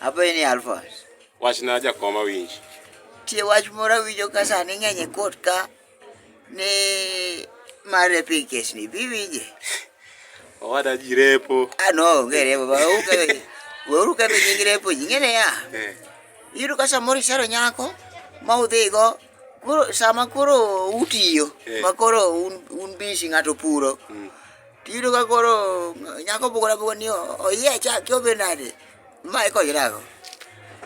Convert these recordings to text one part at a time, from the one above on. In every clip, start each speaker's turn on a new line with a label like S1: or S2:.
S1: Apo ini Alphonse. Wach na jakoma
S2: winj. Tie wach
S1: moro awinjo ka sani ng'eny e kot ka ni mar repo e kesni. Bi winje.
S2: Owada ji repo. Ah no, onge repo. Ba
S1: uke. Weuru ka be nying repo ji ng'ene ya. Eh. Iyudo ka samoro isero nyako ma udhigo koro sama koro utiyo eh. ma koro un, un bisi ng'ato puro. Mm. Tiyudo ka koro nyako bugore abugore ni oyiecha ki obedo nade ma ikonyrago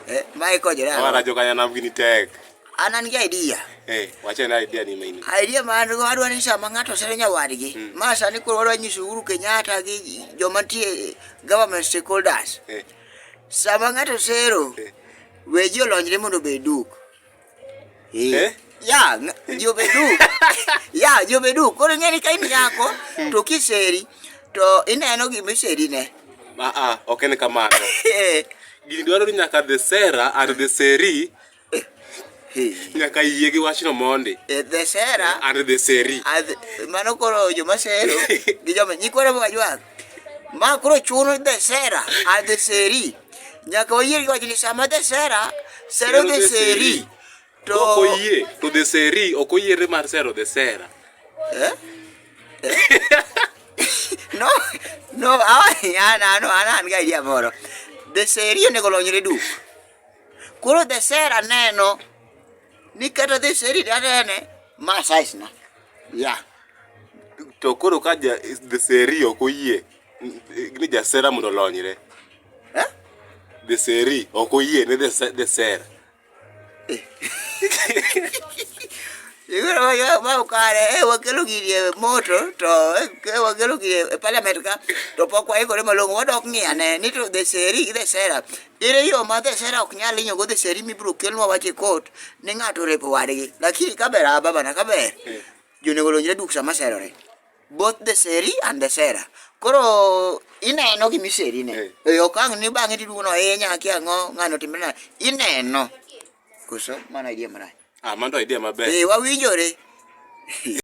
S1: Eh, ma ikonyrago Awara joka nyanam gini
S2: tek. an an gi idea
S1: Eh, wache na idea
S2: ni maini. idea ma an go adwa ni
S1: sama ng'ato sero nyawadgi ma sani koro wadwa nyiso Uhuru Kenyatta gi joma nitie government stakeholders Eh, sama ng'ato sero Eh. we ji olonyre mondo obed duk Eh? eh? Ya, jobedu. ya, jobedu. Koro ng'eni ka in nyako eh. to kiseri to ineno gima iseri ne. Ah ah, ok en
S2: kamano. Eh. Gini dwaro ni nyaka the Sarah and the Seri nyaka yie gi wachno mondi eh, the Sarah
S1: and the Seri.
S2: Mano koro
S1: joma sero gi joma nyikwara mwa jwang. Ma koro chuno ni dhesera, adheseri. Nyaka wayie gi wach ni sama dhesera sero dheseri to Ok oyie to the
S2: seri ok oyiere mar sero the sera. Eh? Eh?
S1: no, no, awani an an an an ga idea moro. Dheseri onego olonyre duk. Koro dhesera neno ni kata dheseri danene ma size na. Yeah.
S2: To koro ka ja the seri ok oyie ni jasera mondo olonyre. Eh? The seri ok oyie ni the se- the sera.
S1: Igoro yo ma ukare e wakelo gini e moto to e wakelo gini e parliament ka to pok waikore malong'o wadok ng'iyane ni to the seri gi the sera Ere yo ma the sera ok nyal inyogo the seri mibiro kelnwa wach e kot ni ng'ato orepo wadgi. Lakini kaber ah babana kaber. Jonego olonjre duk sama serore. Both the seri and the sera. Koro ineno gima iseri ne. E okang' ni bang'e tiduogo no e nyaki ang'o ng'ano timre na. Ineno.
S2: Koso
S1: mana idea marach. Ah, mano to
S2: idea maber.
S1: Eh wawinjore.